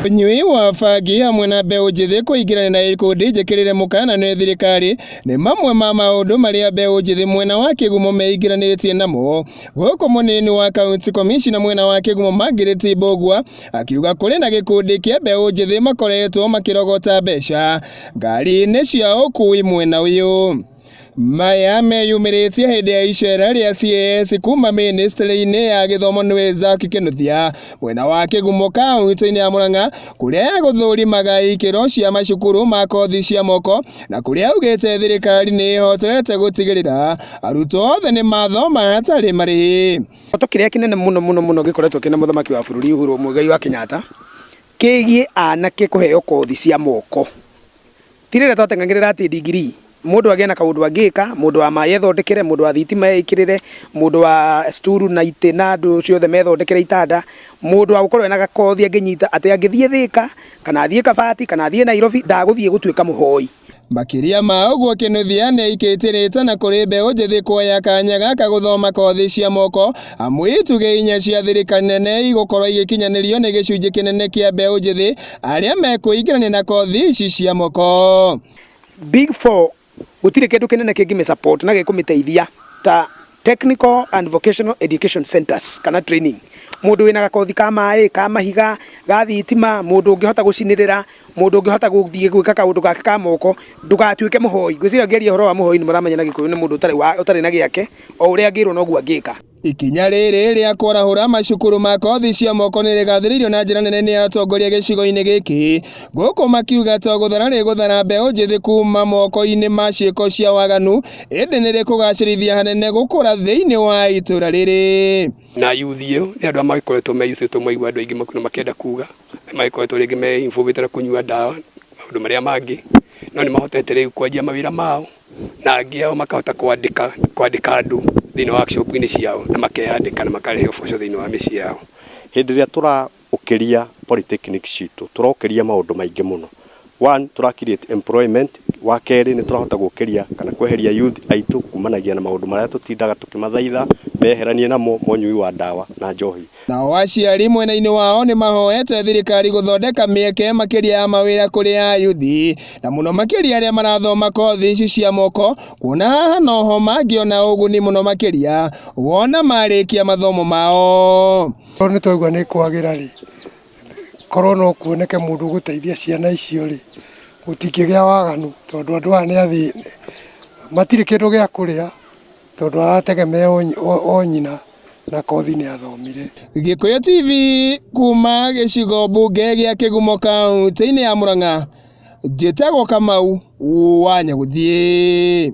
ũnyui wa bangi hamwe na mbeũ njĩthĩ kũingĩrana na ikundi njĩkĩrĩre mũkana nĩ thirikari nĩ mamwe ma maũndũ marĩa mbeũ njĩthĩ mwena wa kĩgumo meingĩranĩtie namo gũkũ mũnini wa kaunti komishina mwena wa kĩgumo Margaret Mbũgua akiuga kũrĩ na gĩkundi kĩa mbeũ njĩthĩ makoretwo makĩrogota mbeca ngari-inĩ cia ũkui mwena ũyũ. Maya meyumĩrĩtie hĩndĩ ya icera rĩa CAS kuma mĩnĩstrĩ-inĩ ya gĩthomo nĩwe Zack Kinuthia mwena wa kĩgumo kaunti-inĩ ya Murang'a kũrĩa gũthũrimaga ikĩro cia macukuru ma kothi cia moko na kũrĩa augĩte thirikari nĩ ĩhotete gũtigĩrĩra arutwo othe nĩ mathoma hatarĩ marĩhi. Kĩroto kĩrĩa kĩnene mũno mũno mũno gĩkoretwo kĩna mũthamaki wa bũrũri Uhuru Muigai wa Kenyatta kĩgiĩ anake kũheo kothi cia moko. Ti rĩrĩa twateng'agĩrĩra atĩ ndigirii, mũndũ agĩe na kaũndũ angĩka, mũndũ wa maĩ ethondekere, mũndũ wa thitima eĩkĩrĩre, mũndũ wa stool na itĩ na andũ ciothe methondekere itanda, mũndũ wa gũkorwo ena gakothi angĩnyita atĩ angĩthiĩ Thĩka, kana athiĩ Kabati, kana athiĩ Nairobi, ndagũthiĩ gũtuĩka mũhoi. Makĩria ma ũguo, Kĩnuthia nĩ aikĩtie rĩĩta na kũrĩ mbeũ njĩthĩ kuoya kanya gaka gũthoma kothi cia moko amu itugĩ inya cia thirikari nene igũkorwo igĩkinyanĩrio nĩ gĩcunjĩ kĩnene kĩa mbeũ njĩthĩ arĩa mekwĩingĩrania na kothi ici cia moko. Big Four gũtirĩ kĩndũ kĩnene kĩngĩmĩ support na gĩkũmĩteithia ta technical and vocational education centers kana training. Mũndũ wĩna gakothi ka maĩ, ka mahiga, ga thitima, mũndũ ũngĩhota gũcinĩrĩra, mũndũ ũngĩhota gũthiĩ gwĩka kaũndũ gake ka moko, ndũgatuĩke mũhoi. Ngwĩciria ngĩaria ũhoro wa mũhoi nĩ mũramenya na Gĩkũyũ nĩ mũndũ ũtarĩ na gĩake, o ũrĩa angĩrwo noguo angĩka. Ikinya rĩrĩ rĩa kwarahũra macukuru ma kothi cia moko nĩ rĩgathĩrĩirio na njĩra nene nĩ atongoria gĩcigo-inĩ gĩkĩ gũkũ makiuga to gũthara rĩ gũthara mbeũ njĩthĩ kuma moko-inĩ ma ciĩko cia waganu ĩndĩ nĩ rĩkũgacĩrithia hanene gũkũra thĩinĩ wa itũra rĩrĩ. Na youth ĩyo nĩ andũ arĩa magĩkoretwo meyucĩtwo maigua andũ aingĩ makuna makĩenda kuga, na magĩkoretwo rĩngĩ me involved na kũnyua ndawa, maũndũ marĩa mangĩ, no nĩ mahotete rĩu kwanjia mawĩra mao. na angĩ ao makahota kwandĩka kwandĩka andũ thĩinĩ wa workshop-inĩ ciao na makeyandĩka na makarehe ũboco thĩinĩ wa mĩciĩ yao. Hĩndĩ ĩrĩa tũraũkĩria polytechnic citũ, tũraũkĩria maũndũ maingĩ mũno. One, tũra create employment, wa kerĩ nĩ tũrahota gũkĩria kana kweheria youth aitũ kumanagia na maũndũ marĩa tũtindaga tũkĩmathaitha meheranie namo ma ũnyui wa ndawa na njohi. Nao aciari mwena-inĩ wao nĩ mahoete thirikari gũthondeka mĩeke makĩria ya mawĩra kũrĩ ayuthi na mũno makĩria arĩa marathoma kothi ici cia moko kuona haha noho mangĩona ũguni mũno makĩria wona marĩkia mathomo mao. Korwo nĩ twaigua nĩ kwagĩra rĩ, korwo no kuoneke mũndũ ũgũteithia ciana icio rĩ, gũtingĩgĩa waganu tondũ andũ aya nĩ athĩni, matirĩ kĩndũ gĩa kũrĩa. Tondũ arategemea o nyina na kothi nĩathomire. Gĩkũyũ TV kuuma gĩcigo mbunge gĩa Kĩgumo kauntĩ-inĩ ya Mũrang'a, njĩtagwo Kamau wa Nyagũthiĩ.